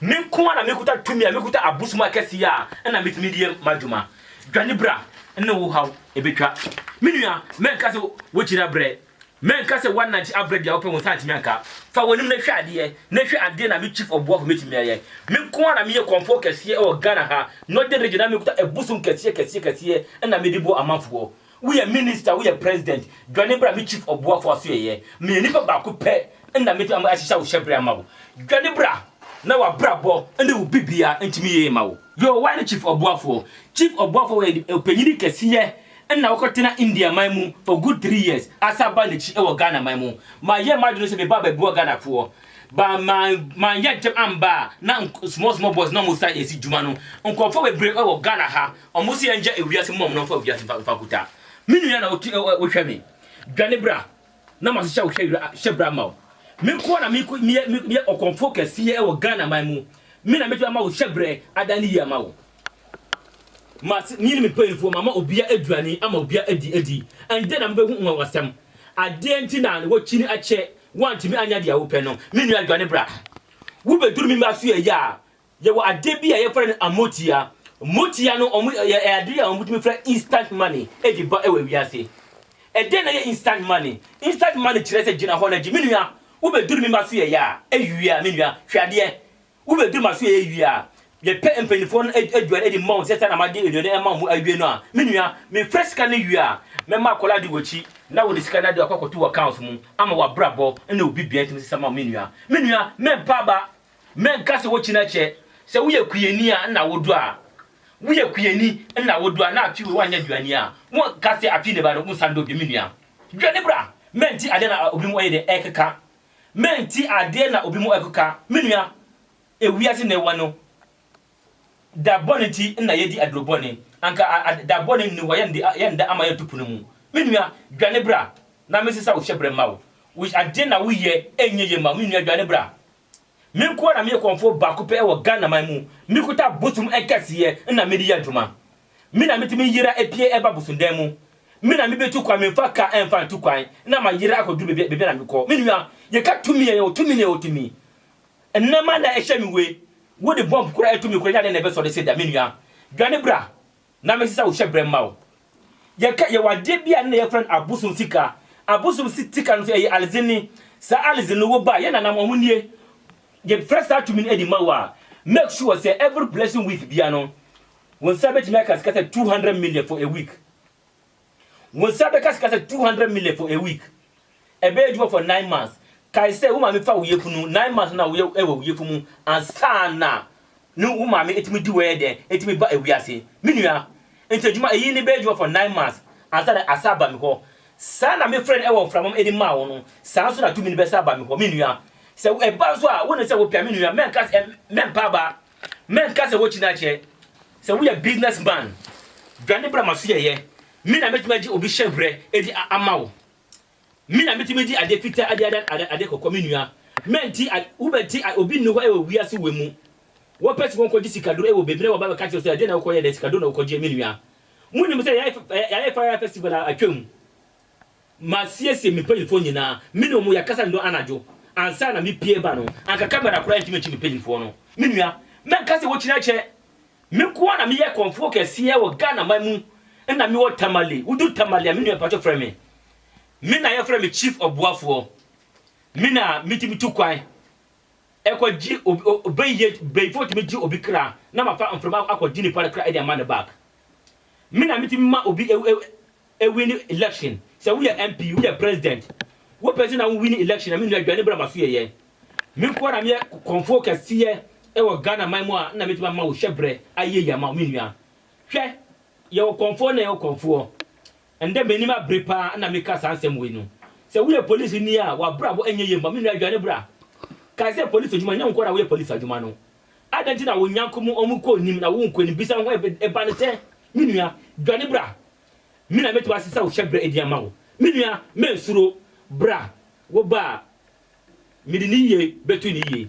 Me nko ara na mekuta tumi a mekuta abosom akɛse yi a ɛna metumi de yɛ m'adwuma. Dwane bra ne wo haw ebetwa. Me nua, mɛnka sɛ wokyiri abrɛ. Mɛnka sɛ woanante abrɛ bia wopɛ wo nsa antumi anka. Fa w'anim na hwɛ adeɛ na hwɛ adeɛ na me chief ɔboafo mɛtumi ayɛ. Me nko ara na meyɛ kɔmfoɔ kɛseɛ wɔ Ghana ha, Northern Region na mekuta abosom kɛseɛ kɛseɛ kɛseɛ na mede bɔ amanfoɔ. Woyɛ minister woyɛ president dwane bra me chief ɔboafo asoɛyɛ meyɛ nipa baako pɛ na me tumi ahyehyɛ wo hyɛbrɛ ama wo dwane bra na wabrabɔ ne wo bibia ntumi yie ma wo. Yoo woayɛ chief ɔboafoɔ. Chief ɔboafoɔ yɛ ɔpanyini kɛseɛ ɛna wokɔ tena India man mu for good three years asa ba nakyi wɔ Ghana man mu ma yɛ madwene sɛ me ba bɛboa Ghana foɔ ba ma ma yɛ ntɛm amba a na small small boys na ɔmo sa yɛsi dwuma no nkorɔfoɔ bebree wɔ Ghana ha Ɔmo se yɛngya ewiase mom no mfa wiase mfa mfa kuta me nua na ɔtu ɛ wo hwɛ me dwane bra na ma hyehyɛ wo hyɛ wira hyɛ bra ma wo me nkoa na me ko meyɛ meyɛ ɔkɔmfoɔ kɛseɛ ɛwɔ Ghana man mu me na mɛtumi ama wo hyɛ brɛ adan ne yie ama wo ma se me ne me mpanyinfoɔ ma ma obia aduane ama obia adi adi ɛndɛ na mo bɛ hu nwanwasɛm adeɛ nti na wɔ kyini akyɛ wantumi anya deɛ wo pɛ no me nua dwane bra wo bɛ duru me mba so yɛ yaa Yɛwɔ adeɛ bi a yɛfrɛ no amotia. Motia no wɔn yɛ ɛyɛ adeɛ a wɔtumi frɛ instant money de ba wɔ wiase. Ɛdeɛn na ɛyɛ instant money? Instant money kyerɛ sɛ gyina hɔ na gye. Me nua, wobɛduru me mma so yɛyɛ a, ɛwie a, me nua, hwɛ adeɛ. Wobɛduru m'aso yɛyɛ wie a, yɛpɛ mpanimfoɔ no ad aduane de ma wɔn sɛ sɛ na made aduane ama wɔn awie no a, me nua, mefrɛ sika no wie a, mɛma akwadaa de w'akyi na wode sika no ade akɔ akɔto w'accounts mu ama w'abrabɔ ne wo bibia atumi asesa ma wo me nua. Me nua, mɛmpa aba Mɛ nka sɛ wokyi na kyɛ sɛ woyɛ kuiɛni a nna wo do a woyɛ kuiɛni nna wo do a na afi wei wanyɛ aduani a wo nka sɛ afi ne ba no wo nsa ndɔ bi me nua dwane bra mɛ nti adeɛ na obi mu ɔyɛ dɛ ɛkeka mɛ nti adeɛ na obi mu ɛkeka me nua ewiase na ɛwɔ no. Da bɔne nti na yɛadi aduro bɔne, anka da bɔne nni hɔ a yɛnda ama yɛnto pono mu. Me nua, dwane bra na mensesa wo hyɛberɛ mma wo. Wo adeɛ na woyɛ ɛnyɛ yie mma wo. Me nua, dwane bra. Me nko ara na meyɛ kɔmfoɔ baako pɛ wɔ Ghana man mu. Mekuta bosom nkɛseɛ na mede yɛ adwuma. Me na metumi yera pue ba bosomdan mu. Me na mebetu kwan, memfa car mfa ntu kwan na mayera akɔduru baabi a na mekɔ. Me nua, yɛka tumi a, yɛwɔ tumi na yɛwɔ tumi. Nnɛ ma na ɛhyɛ me we. Wo de bomb kura ɛtumi kura nya dɛn na ɛbɛsɔ de se da me nua dwane bra na me sesa wo hyɛ brɛ mma wo yɛ ka yɛ wɔ adeɛ bi a nna yɛ frɛ no abosom sika abosom si tika no so ɛyɛ alidze ni saa alidze no wo ba yɛ nana mo ɔmo nie yɛ frɛ saa tumi no ɛde ma wo a make sure sɛ every blessing week bia no wo nsa bɛtumi aka sika sɛ 200 million for a week. Wo nsa bɛka sika sɛ two hundred million for a week. Ɛbɛyɛ adwuma for nine months. Kae sɛ wo maame fa wo yafunu, nine months no na woyɛ wɔ wo yafunu mu ansa na ne wo maame tumi di w'ɛyɛ dɛn, tumi ba wiase. Me nua, nti adwuma eyi no bɛyɛ adwuma for nine months ansa na asan aba me hɔ. Saa na me frɛ no wɔ mframam de maa wo no, saa nso na tumi no bɛsan aba me hɔ. Me nua, sɛ ɛba nso a, wonim sɛ wopɛ a, me nua, mɛnka sɛ mɛmpa aba. Mɛnka sɛ wokyi na kyɛ sɛ woyɛ business man, dwane bra m'asoɛeɛ, me na mɛtumi agye obi hyɛbrɛ adi ama wo, me na mɛtumi de adeɛ fitaa adi adan adeɛ kɔkɔɔ, me nua, mɛnti a wobɛnti a obi nni hɔ wɔ wiase wei mu, wɔpɛ sɛ wɔkɔgye sikaduro wɔ baabi na wɔba bɛka kyerɛ sɛ ɛdeɛ na wokɔyɛ dɛ, sikaduro na wokɔgyeɛ me nua. Monim sɛ yɛayɛ fire festival a atwam, Masiesie me mpanyimfoɔ nyinaa, me ne wɔn yɛkasa nnɔn anadwo ansa na mepue reba no, anka kamera koraa rentumi nkye me mpanyimfoɔ no. Me nua, mɛnka sɛ wokyinɛ kyɛ, me nko ara na meyɛ kɔmfoɔ kɛseɛ wɔ Ghanaman mu, nna mewɔ Tamale, woduru Tamale a me nua mpakyɛ frɛ me, me na yɛfrɛ me Chief Ɔboafoɔ, me na metumi tu kwan kɔ gye obi, bɛyɛ bɛyifoɔ tumi gye obi kra na mafa mframa akɔ gye nipa no kra de ama no back, me na metumi ma obi Ewin election sɛ woyɛ MP woyɛ president wopɛ sɛ na wo win election a me nua adwane bra maso yɛyɛ me nko ara na meyɛ kɔnfoɔ kɛseɛ ɛwɔ Ghana man mu a na mɛtumi ama wo hyɛbrɛ ayie yie ama wo me nua hwɛ yɛwɔ kɔnfoɔ na yɛwɔ kɔnfoɔ ɛndɛ m'anim abere paa na meka saa nsɛm wei no sɛ woyɛ police ni a wabrabɔ ɛnyɛ yie mma me nua adwane bra kae sɛ police adwuma nyɛ wo nko ara na woyɛ police adwuma no Adɛn nti na wo nyako mu ɔmo kɔ nim na wo nkɔ nim? Bisa ho ɛba no sɛ, Me nua, dwane bra, me na mɛtumi asesa wo hyɛbrɛ adi ama wo. Me nua, mɛnsuro, bra, wo ba a, mede ne yie bɛto ne yie.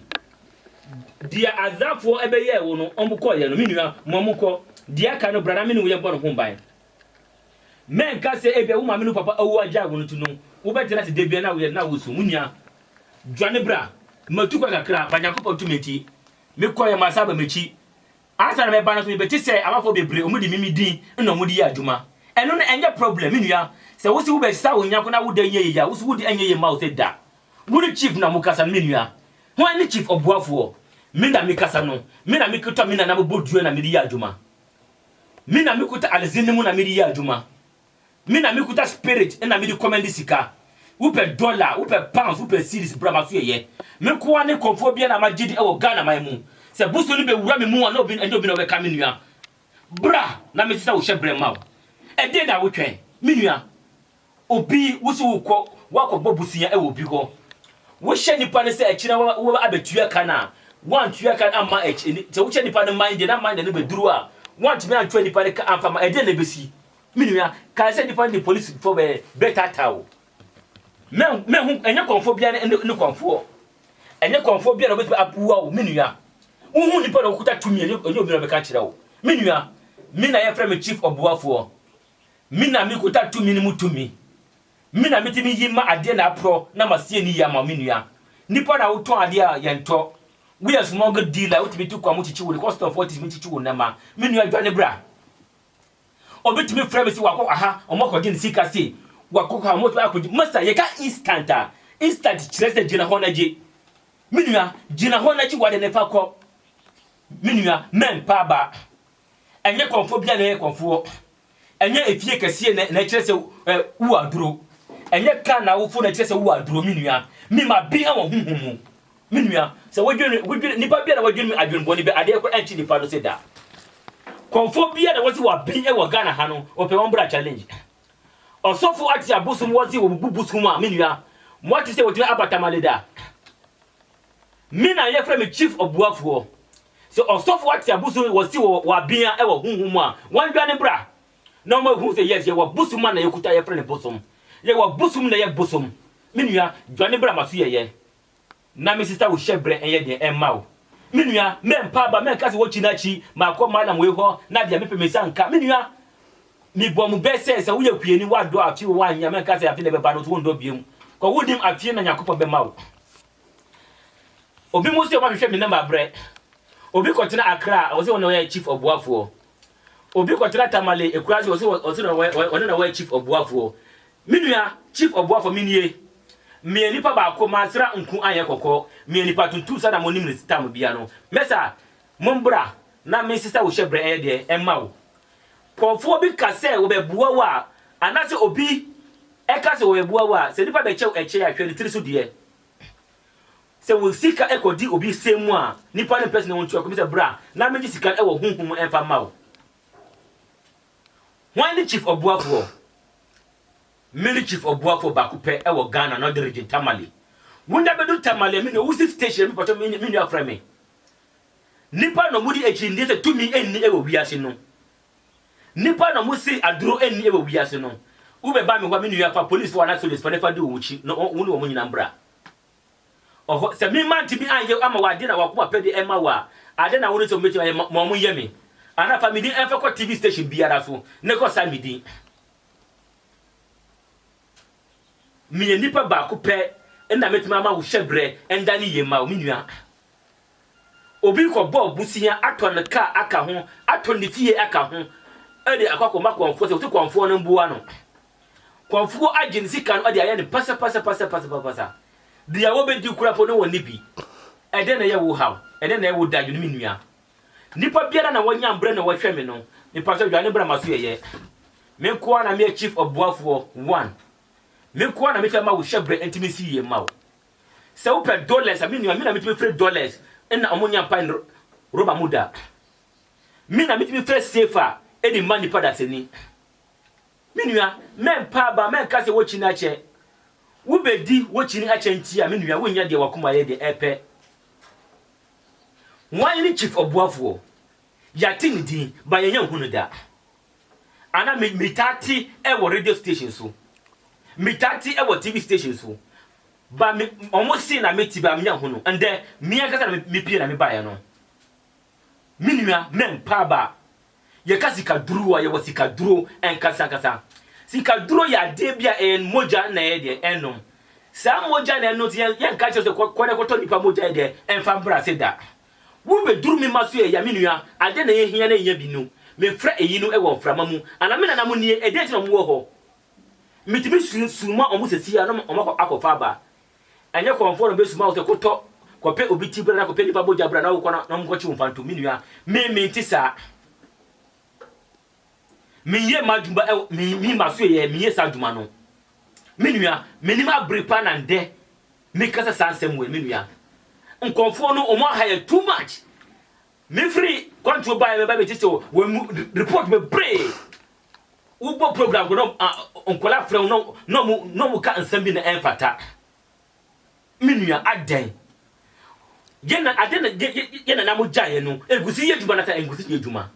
Deɛ Asdadfoɔ bɛyɛɛ wo no, ɔmo kɔeɛ no, me nua, ma ɔmo nkɔ. Deɛ aka no, bra na me ne wo yɛbɔ no ho ban. Mɛnka sɛ ebia wo maame ne wo papa awu agyae wo no nti no, wobɛtena ase da biara na woyɛ na wosu. Me nua, Dwane bra, matu kɔ kakra, ma Nyankopɔn tumi nti, me kɔeɛ ma saa ba m'akyi. Ansa na mɛba no nso, mebɛte sɛ amanfoɔ bebree, wɔde me me din na wɔde yɛ adwuma. Ɛno no, ɛnyɛ problem, me nua. Sɛ wose wobɛsesa wo nyɛnko na wo dɛ nyɛ yie a, wose wode ɛnyɛ yie mma wo sɛ da. Wone Chief na mokasa no, me nua. Hwan ne Chief ɔboafoɔ? Me na mekasa no. Me na mekuta me nananom bɔdua na mede yɛ adwuma. Me na mekuta Alison no mu na mede yɛ adwuma. Me na me kuta spirit na me de kɔ mɛnde sika Wo pɛ dollar, wo pɛ pounds, wo pɛ cedis bra ma so yɛ yɛ Me nkoa ne kɔmfoɔ biara na ma gye di wɔ Ghana man mu Sɛ bosom no bɛ wura me mu a na obi ɛnyɛ obi na ɔbɛ ka me nua Bra na me sesa wo hyɛ brɛ mma wo Ɛdɛn na wo twɛn me nua Obi wo se wo kɔ wo akɔ bɔ bosea wɔ obi hɔ Wo hyɛ nipa no sɛ akyire no wo bɛ abɛ tua ka no a wo antua ka no amma akyi Sɛ wo kyɛ nipa no mind na mind no bɛ duru a wo antumi antua nipa no ka amfa ma ɛdɛn na ɛbɛ si Me nua, kae sɛ nnipa no de polisifo bɛ, bɛtaataa wo. Mɛ, mɛ ho, ɛnyɛ kɔmfoɔ biara ne, ne, ne kɔmfoɔ. Ɛnyɛ kɔmfoɔ biara na ɔbɛtumi aboa wo, me nua. Wohu nnipa na wɔkuta tumi, ɛnyɛ, ɛnyɛ obi na ɔbɛka akyerɛ wo. Me nua, me na yɛfrɛ me Chief Ɔboafoɔ. Me na mekuta tumi no mu tumi. Me na metumi yi ma adeɛ na aporɔ na masie no yie ama wo, me nua. Nnipa na wotɔn adeɛ a yɛntɔ. Woyɛ smuggle dealer, wotumi tu kwan mu kyekye wo, kɔstɔmfoɔ tumi kyekye wo nneɛma. Me nua, dwane bra. Obetumi frɛ me se wakɔ kɔ ha, wɔn akɔgye ne sika se wakɔ kɔ ha, wɔn akɔgye. Masta, yɛka instant a, instant kyerɛ sɛ gyina hɔ na gye. Me nua, gyina hɔ na gye w'ade no fa kɔ. Me nua, mɛmpa aba. Ɛnyɛ kɔmfoɔ biara na ɛyɛ kɔmfoɔ. Ɛnyɛ efie kɛseɛ na na ɛkyerɛ sɛ ɛ wo aduro. Ɛnyɛ kaa na wofo na ɛkyerɛ sɛ wo aduro, me nua. Mema bi wɔ honhom mu. Me nua, sɛ wodwen wodwen nipa bi a na wadwen adwen bɔne bi adeɛ kɔ ɛnkye nipa no se da. Kɔnfoɔ bi a na wɔse wabin ɛwɔ Ghana ha no wɔpɛ wɔn bra challenge. Ɔsɔfo ate abosom wɔse wɔbubu bosom a me nua moate sɛ wɔtumi aba tamale da. Me na yɛfrɛ me chief ɔboafoɔ. Sɛ ɔsɔfo ate abosom wɔse wɔ wabin a ɛwɔ honhom mu a wɔn dwane bra na wɔn ahu sɛ yes yɛwɔ bosom a na yɛkuta yɛfrɛ no bosom. Yɛwɔ bosom na ɛyɛ bosom. Me nua dwane bra ma so yɛyɛ. Na me sista wo hyɛbrɛ nyɛ den mma wo me nua mɛ mpa aba mɛ nka sɛ wɔ kyi na kyi ma kɔ mallam wei hɔ na deɛ me pɛ me nsa nka me nua me bɔ mo bɛ sɛ sɛ wo yɛ kwiani wa dɔ afi wo wa nyɛ mɛ nka sɛ afi na bɛ ba no so wo ndɔ biem kɔ wo nim afi na nyakopɔ bɛ ma wo obi mo sɛ ɔma me hwɛ me nɛma abrɛ obi kɔ tena akra a ɔsɛ wɔn yɛ chief ɔboafoɔ obi kɔ tena tamale ekura sɛ ɔsɛ ɔsɛ wɔn ne na wɔyɛ chief ɔboafoɔ Me nua Chief Obuafo me nie, meyɛ nipa baako mansra nku anyɛ kɔkɔɔ, meyɛ nipa tuntum sɛda mo nim no tam bia no, mɛsa mo mbra na me nsesa wo hyɛ brɛ ɛyɛ deɛ ɛma wo. Kɔɔfoɔ bi ka sɛ wɔbɛboa wo a anase obi ɛka sɛ wɔbɛboa wo a sɛ nipa bɛkyɛ wo ɛkyɛ a hwɛ ne tiri so deɛ. Sɛ wo sika ɛkɔ di obi sɛm mu a nipa no mpɛ sɛ ne wo ntua kɔ, me sɛ bra na me gye sika no ɛwɔ huhum mu ɛnfa ma wo. Hwan ne Chief Ɔboafoɔ? Me ne Chief Ɔboafoɔ baako pɛ wɔ Ghana Northern Region, Tamale. Wo nna bɛdu Tamale a me nua, wo si station bi mpakyɛw me nua frɛ me. Nnipa na wɔdi akyinnyeɛ sɛ tumi nni wɔ wiase no. Nnipa na wɔse aduro nni wɔ wiase no. Wobɛba me hɔ a me nua fa polisfoɔ anaa sogyasfoɔ na fa di wɔn akyi na wo ne wɔn nyinaa mbra. Ɔhɔ, sɛ me mma antumi anyɛ ama wo ade na w'akoma pɛ de ɛma wo a, adɛn na wone sɛ mubetumi ayɛ ma ma wɔnyɛ me? Anaa fa me din mfa kɔ TV station biara so na kɔ saa me din. Meyɛ nipa baako pɛ na metumi ama wo hyɛbrɛ nda ne yie mma wo, me nua. Obi rekɔbɔ bosea, atɔ ne kaa aka ho, atɔ ne fie aka ho de akɔ akɔma kɔmfoɔ sɛ wɔte kɔmfoɔ no mmoa no. Kɔmfoɔ agye ne sika no de ayɛ no pasapasapasapasapasa. Deɛ wɔbɛdi koraa mpo no wɔnni bi. Ɛdɛn na ɛyɛ wo haw? Ɛdɛn na ɛyɛ wo dadwene me nua? Nnipa biara na wɔnya mbrɛ na wɔhwɛ me no, mepakyɛ wo dwane bra m'aso yɛyɛ. Me nko ara na meyɛ chief ɔboafoɔ, one. Me nko ara na mɛtumi ama wo hyɛbrɛ nti mensi yie mma wo. Sɛ wo pɛ dollars a me nua me na me tumi firi dollars na ɔmo nya mpae no rɔba mu da. Me na me tumi fɛ safe a ɛde ma nipa dasani. Me nua mɛ mpa aba mɛ nka sɛ wo kyini akyɛ. Wo bɛ di wo kyini akyɛ nti a me nua wo nya deɛ wakoma yɛ deɛ ɛpɛ. Wan ne chief ɔboafoɔ? Yate ne din but yɛnya nhu no da. Ana me metaa te ɛwɔ radio station so metaa te ɛwɔ TV station so ba me ɔmo se na meti ba menya hunu ɛndɛ mia kasa na mepie na mebaeɛ no me nua mɛmpa ba yɛka sika duro a yɛwɔ sika duro ɛnkasa nkasa sika duro yɛ adeɛ bi a ɛyɛ mogya na ɛyɛ deɛ ɛnom saa mogya na ɛno nti yɛnka kyerɛ sɛ kɔdɛ kɔtɔ nipa mogya yɛ deɛ ɛmfa mbra se da Wo bɛduru me mma so ɛya me nua adɛn na yɛ hia na ɛnya bi no me frɛ ɛyi no ɛwɔ mframa mu ana me nana mo nie ɛdɛn nti na ɔmo wɔ hɔ me tumi su suma ɔmo sɛsi a na ɔmo akɔ akɔ fa aba ɛnyɛ kɔnfoɔ na ɔbɛ suma wo sɛ kɔ tɔ kɔ pɛ obi ti bra na kɔ pɛ nipa bogya bra na wo kɔ na ɔmo kɔ kye wo mfantom me nua me me nte saa. Menyɛ m'adwuma ɛwɔ me me maso yɛ menyɛ saa adwuma no. Me nua, menim abere paa na ndɛ mekasa saa nsɛm wei me nua. Nkɔmfoɔ no ɔmo aha yɛ too much. Mefiri kwantuo baeɛ mɛba bɛgye sɛ wɔn mu report bebree. Wobɔ program kɔ na nkɔla frɛ wo na ɔmo na ɔmo ka nsɛm bi na ɛmfata. Me nua adɛn? Yɛn na adɛn na yɛn nana mo gyaeɛ no nkusi yɛ adwuma na sɛ nkusi yɛ adwuma.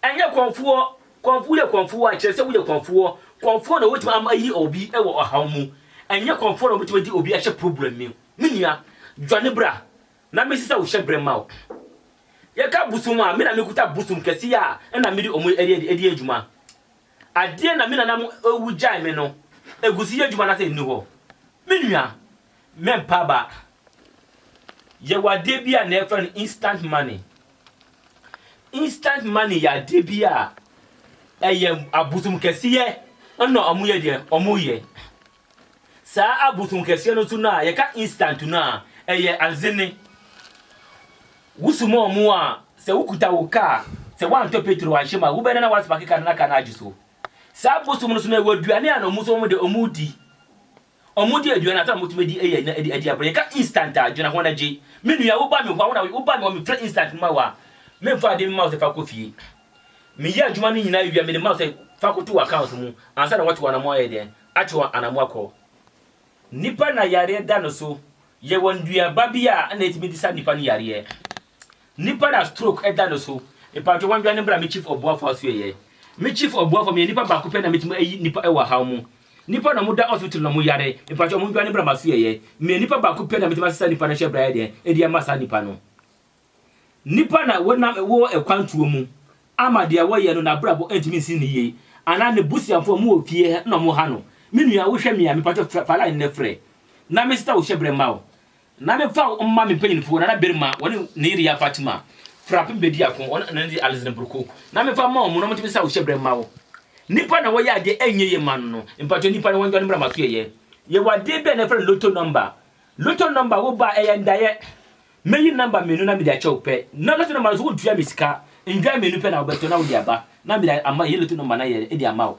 Ɛnyɛ kɔmfoɔ, kɔmfo woyɛ kɔmfoɔ a kyerɛ sɛ woyɛ kɔmfoɔ, kɔmfoɔ na wobɛtumi ama ayi obi wɔ ɔhaw mu, ɛnyɛ kɔmfoɔ na wobɛtumi adi obi ahyɛ problem mu. Me nua, dwane bra na mensesa wo hyɛbrɛ mma wo. Yɛka bosom a, me na mekuta bosom kɛse a na mede ɔmo ɛdi adwuma. Adeɛ na me nananom ewu gyae me no, ɛguso yɛ adwuma nasɛ ɛnni hɔ. Me nua, Me mpaaba yɛ wɔ adeɛ bi a na yɛfrɛ no instant money. Instant money yɛ adeɛ bi a ɛyɛ abosom kɛseɛ na wɔn yɛ deɛ wɔn yɛ. Saa abosom kɛseɛ no nso no a yɛka instant no a ɛyɛ azene. Wosoma wɔn a sɛ wokuta wo kaa sɛ woantɔ petro anhyɛ mu a wobɛda na woasparke kaa no na kaa no agye so. Saa abosom no nso no ɛwɔ aduane a na wɔn nso wɔn de wɔn di. Ɔmo di aduane a afei a motumi adi ɛyɛ na ɛdi ɛdi abere yɛka instant a dwena ho na gye me nua wo ba me hɔ a wona wo ba me hɔ me fira instant ma wo a me nfa adeɛ me ma wo sɛ fa kɔ fie me yɛ adwuma no nyinaa wie a mede ma wo sɛ fa kɔ to wɔ account mu ansa na watu anamɔ ayɛ deɛn atu anamɔ akɔ nipa na yareɛ da no so yɛwɔ nnuaba bi a na ɛtumi de sa nipa no yareɛ Nipa na stroke da no so. Mpatsɔ wɔn dwane mbra me chief ɔboafo aso ɛyɛ. Me chief ɔboafo meyɛ nipa baako pɛ na metumi ayi nipa ɛwɔ ahaw mu. Nipa na ɔmo da hospital na ɔmo yare mpatsɔ ɔmo ndwane mbra maso ɛyɛ. Meyɛ nipa baako pɛ na metumi asesa nipa no ahyɛ bra yɛ deɛn ɛde ama saa nipa no. Nipa na wɔnam wɔ ɛkwantuo mu ama deɛ wɔyɛ no nabrabɔ ntumi nsi no yie anaa ne busuafo ɔmo wɔ fie ha na ɔmo ha no. Me nua wo hwɛ me a mepatsɔ fa line no frɛ na me sesa wo hyɛ brɛ mma wo. Na memfa wo mma me mpanyimfo Nana Berima ne Neria Fatima Frapim Bediako ne Ananzi Alison Broko na memfa mma wɔn na wɔntumi nsa wo hyɛbrɛ mma wo? Nnipa na wɔyɛ adeɛ ɛnyɛ yie mma no no, mpakyɛ nnipa no wɔndwane mmra m'asoɛeɛ. Yɛwɔ adeɛ bi a na yɛfrɛ no Lotto Number. Lotto Number wo ba a ɛyɛ ndaeɛ. Mɛyi number mmienu na mede akyɛ wo pɛ. Na Lotto Number no nso wontua me sika, ndwan mmienu pɛ na wobɛtɔ na wode aba na mede ama, ɛyɛ Lotto Number na yɛde ama wo.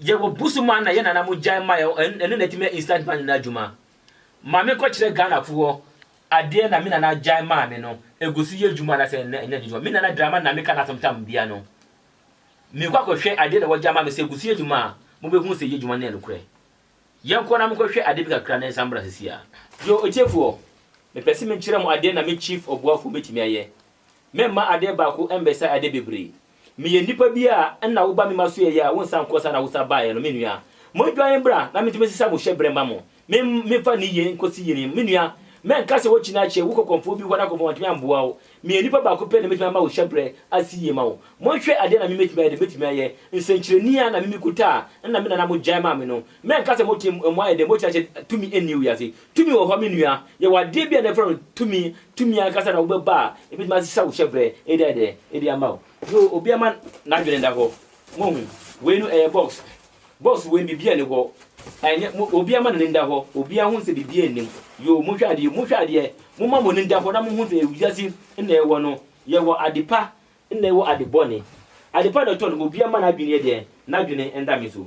Yɛwɔ bu so ma na yɛn nana mo gyae mae ɔ ɛno na ɛtumi yɛ instant ma nana adwuma. Ma me nkɔ kyerɛ Ghana fo hɔ adeɛ na me nana gyae maa me no ɛgu so yɛ adwuma anaa sɛ ɛnna ɛnna adwuma. Me nana drama na me ka n'asɛm tam bia no. Me nkɔ akɔ hwɛ adeɛ na wɔgyae maa me sɛ ɛgu so yɛ adwuma a mo bɛ hu sɛ yɛ adwuma no yɛ nokorɛ. Yɛn kɔ na mo nkɔ hwɛ adeɛ bi kakra na yɛn san mbra sesie ara. Yo otiefoɔ, me pɛ se me nkyerɛ mo adeɛ na me chief ɔboafoɔ bɛtumi ayɛ. Me mma adeɛ baako ɛmbɛsae adeɛ bebree. Meyɛ nipa bi a nna woba me ma so yɛyɛ a wonsan nkɔ saa na wosan baeɛ no, me nua. Mondwane mbra na mentumi nsesa mo hyɛbrɛ mma mo, me memfa ne yie nkɔsi yie no, me nua. Mɛnka sɛ woakyi no akyɛ, wokɔ kɔmfoɔ bi hɔ na kɔmfoɔ wantumi amboa wo. Meyɛ nipa baako pɛ na mɛtumi ama wo hyɛbrɛ asi yie ma wo. Monhwɛ adeɛ na me mɛtumi ayɛ deɛ mɛtumi ayɛ, nsɛnkyerɛni a na me mekuta a nna me nana mo gyae maa me no, Mɛnka sɛ mote mu ayɛ dɛ, mokyerɛkyerɛ dɛ tumi nni wiase. Tumi wɔ hɔ, me nua. Yɛwɔ adeɛ bi a na yɛfrɛ no tumi. Tumi ankasa na wobɛba a, ɛbɛtumi asesa wo hyɛbrɛ de ayɛ dɛ? De ama wo. So obiara ma n'adwene nda hɔ? Moahu? Wei no, ɛyɛ box. Box wei no, biribiara nni hɔ. Ɛnyɛ, mo, obiara mma n'ani nda hɔ. Obiara hu sɛ biribiara nni mu. Yoo, monhwɛ adeɛ, monhwɛ adeɛ. Momma mo ani nda hɔ na monhu sɛ wiase nna yɛwɔ no, yɛwɔ ade pa na yɛwɔ ade bɔne. Ade pa na ɛtɔ no, obiara mma n'adwene yɛ dɛn? N'adwene nda me so.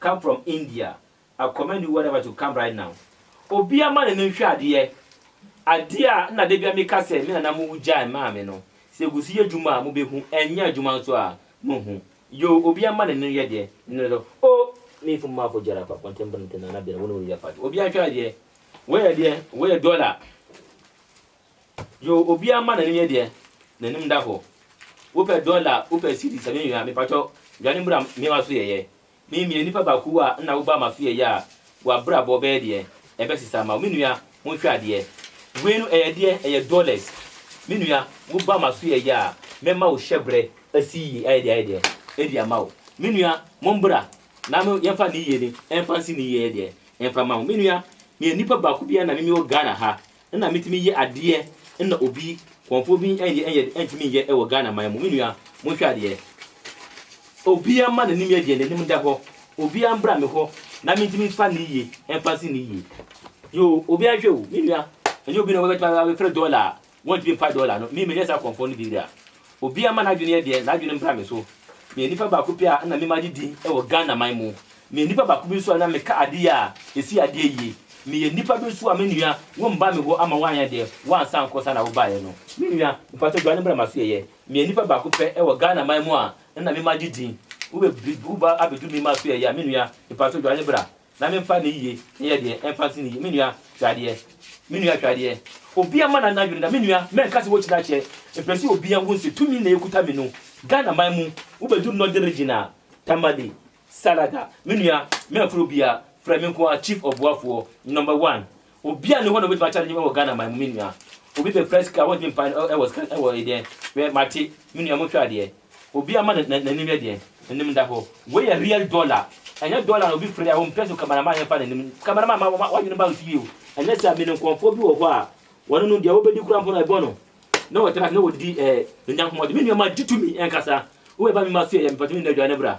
come from India I commend you whatever to come right now obia ma no no nhwɛ adeɛ adeɛ a na dabia meka sɛ me nana mo gyae maa me no sɛ ɛguso yɛ adwuma a mobɛhu ɛnyɛ adwuma nso a monhu yoo obia ma no no yɛ deɛ no no oh me fo ma fo gyara pa pɔntɛm brɛntɛ nana bɛrɛ wo ne wo yɛ pa obia nhwɛ adeɛ wei yɛ deɛ wei yɛ dollar Yoo obiaa mma n'anim yɛ deɛ n'anim da hɔ. Wo pɛ dɔla a, wo pɛ cedis a, me nua mepakyɛw dwane mmra mewa so yɛyɛ. Me meyɛ nipa baako a nna wo ba ma so yɛyɛ a w'abrabɔ bɛyɛ deɛ ɛbɛsesa ama wo. Me nua ho hwɛ adeɛ. Wei no ɛyɛ deɛ ɛyɛ dɔlɛs. Me nua wo ba ma so yɛyɛ a mɛma wo hyɛbrɛ asi yie ayɛ deɛ ayɛ deɛ ɛdi ama wo. Me nua mo mbra na me yɛmfa ne yie ne ɛmfa nsi ne yie yɛ deɛ ɛmfa ma wo. Me nua meyɛ nipa baako bi a nna me mewɔ Ghana ha. nna metumi yɛ adeɛ nna obi kɔnfoɔ bi nyɛ nyɛ ntumi nyɛ wɔ Ghana man mu me nua monhwɛ adeɛ obia mma nanim yɛ deɛ nanim da hɔ obia mbra me hɔ na mentumi mfa ne yie mfa nsi ne yie yoo obia nhwɛ o me nua ɛnyɛ obi na wɔbɛtumi abɛfrɛ dɔla a wɔntumi mpa dɔla no me menyɛ saa kɔnfoɔ no bi da Obiara mma n'adwene yɛ deɛ n'adwene mbra me so. Meyɛ nipa baako pɛ a nna me magye din wɔ Ghana man mu. Meyɛ nipa baako bi nso a na meka ade yɛ a ɛsi adeɛ yie. Meyɛ nipa bi nso a me nua wo mma me hɔ ama woanyɛ deɛ woansa ankɔ saa na wobaeɛ no. Me nua, mpakyɛw dwane bra m'asoɛeɛ. Meyɛ nipa baako pɛ wɔ Ghana man mu a nna me magye din. Wobɛ bi wo ba abɛduru me mma asoɛeɛ a, me nua, mpakyɛw dwane bra. Na memfa ne yiye nyɛ deɛ ɛmfa nsi ne yiye. Me nua, hwɛ adeɛ. Me nua, hwɛ adeɛ. Obiara mma n'ano adwene da. Me nua, mɛnka sɛ wokyina kyɛ. Mepɛ sɛ obiara hu sɛ tumi na ɛkuta me no. Ghana man mu, wobɛduru Northern Region a, Tamale, Salaga. Me nua, mɛmfrɛ obiara. Frɛ me nko ara, Chief Ɔboafoɔ, Number One. Obi a ne hɔ na obetumi akyɛ no nyɛ wɔ Ghana man mu me nua. Obi pɛ kura sika a wɔntumi mpa no ɛwɔ sika ɛwɔ ɛdeɛ wɛ mate me nua mo hwɛ adeɛ. Obi ama na n'anim yɛ deɛ n'anim da hɔ. Wei yɛ real dollar ɛnyɛ dollar na obi fere a wɔmpɛ so camera man yɛ fa n'anim camera man ma wɔn wɔn adwene bank yie o. Ɛnyɛ saa me ne nkɔmfoɔ bi wɔ hɔ a wɔn no deɛ wɔbɛdi kura mpo no ɛbɔ no na wɔtra na wɔdidi ɛɛ nyankomɔde me nua ma gye tumi ɛnkasa wo ɛba me ma so yɛ yɛ me pɛtɛ me nua dwane bra.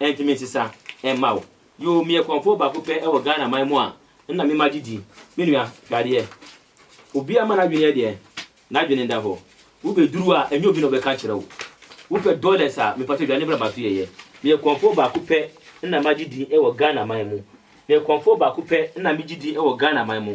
Ɛnti me nsesa mma wo. Yoo meyɛ kɔmfoɔ baako pɛ wɔ Ghana man mu a nna me ma gye di. Me nua, hwɛ adeɛ. Obiara ma n'adwene yɛ deɛn? N'adwene nda hɔ. Wo bɛ duru a ɛnyɛ obi na ɔbɛka akyerɛ wo. Wo pɛ dollars a, mepatɔ dwane bra ma so yɛ yɛ. Meyɛ kɔmfoɔ baako pɛ nna ma gye di wɔ Ghana man mu. Meyɛ kɔmfoɔ baako pɛ nna me gye di wɔ Ghana man mu.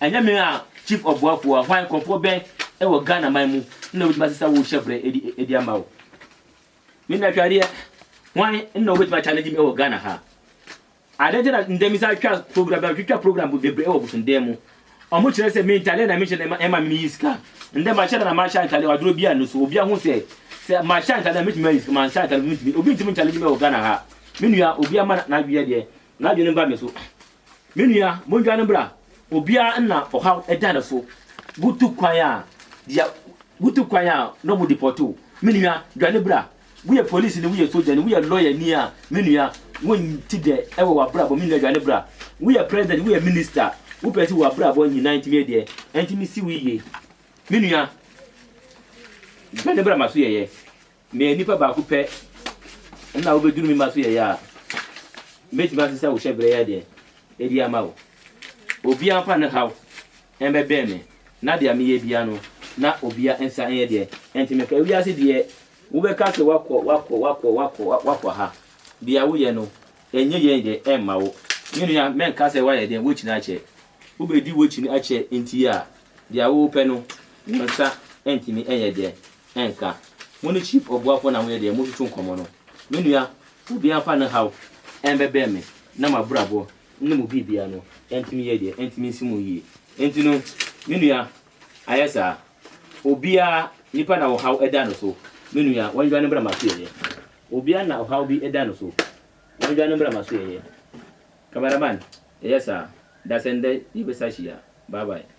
Ɛnyɛ me a Chief Ɔboafo a hwan nkorɔfoɔ bɛn wɔ Ghana man mu na wobɛtumi ase sɛ wohyɛ berɛ de ama wo? Me na atwadeɛ hwan na wobɛtumi a challenge me wɔ Ghana ha? Adɛn nti na ndɛ mesa twa program bia metwitwa program bebree wɔ bosonden mu ɔmo kyerɛ sɛ me ntaleɛ na mehyɛ na ɛma meyi sika ndɛ mahyɛ da na mahyɛ ntaleɛ aduro bia no so obia ho sɛ sɛ mahyɛ ntaleɛ na metumi ayi sika manhyɛ ntaleɛ obi ntumi challenge me wɔ Ghana ha me nua obia ma n'adweɛ deɛ N'adwene ba me so. Me nua, mondwane bra. Obiara nna ɔhaw da ne so. Wotu kwan a, deɛ wotu kwan a na wɔn depɔte wo. Me nua, dwane bra. Woyɛ polisini, woyɛ sogyani, woyɛ lɔyani a, me nua, wonti dɛ wɔ w'abrabɔ. Me nua, dwane bra. Woyɛ president, woyɛ minister, wopɛ sɛ w'abrabɔ nyinaa ntumi yɛ deɛ ɛntumi si wo yie. Me nua, dwane bra ma so yɛyɛ. Meyɛ nipa baako pɛ na wobeduru me mma so yɛyɛ a, metumi asesa wo hyɛbrɛ yi adeɛ adi ama wo. Obia mfa ne haw mmɛbɛn me, na deɛ meyɛ bia no, na obia nsa nyɛ deɛ ɛnte me ka. Wiase deɛ wobɛka sɛ woakɔ, woakɔ, woakɔ, woakɔ, woakɔ ha. Deɛ woyɛ no, ɛnyɛ yie deɛ ɛmma wo. Me nua, mɛnka sɛ woayɛ deɛ wokyini akyɛ. Wobedi wokyini akyɛ nti a, deɛ wopɛ no, wo nsa ntumi nyɛ deɛ ɛnka. Mo ne Chief Obuafoɔ na moyɛ deɛ motutu nkɔmmɔ no. Me nua, obiara mfa ne haw ɛmbɛbrɛ me na m'abrabɔ ne mo biribiara no ɛntumi yɛ deɛ, ɛntumi nsi mo yie. Enti no, me nua, ayɛ saa. Obiara, nipa na ɔhaw ɛda no so, me nua, wɔndwane mbra m'asoɛeɛ. Obiara na ɔhaw bi ɛda no so, wɔndwane mbra m'asoɛeɛ. Camera man, ɛyɛ saa, dasɛn dɛ yɛbɛsa hyia. Bye bye.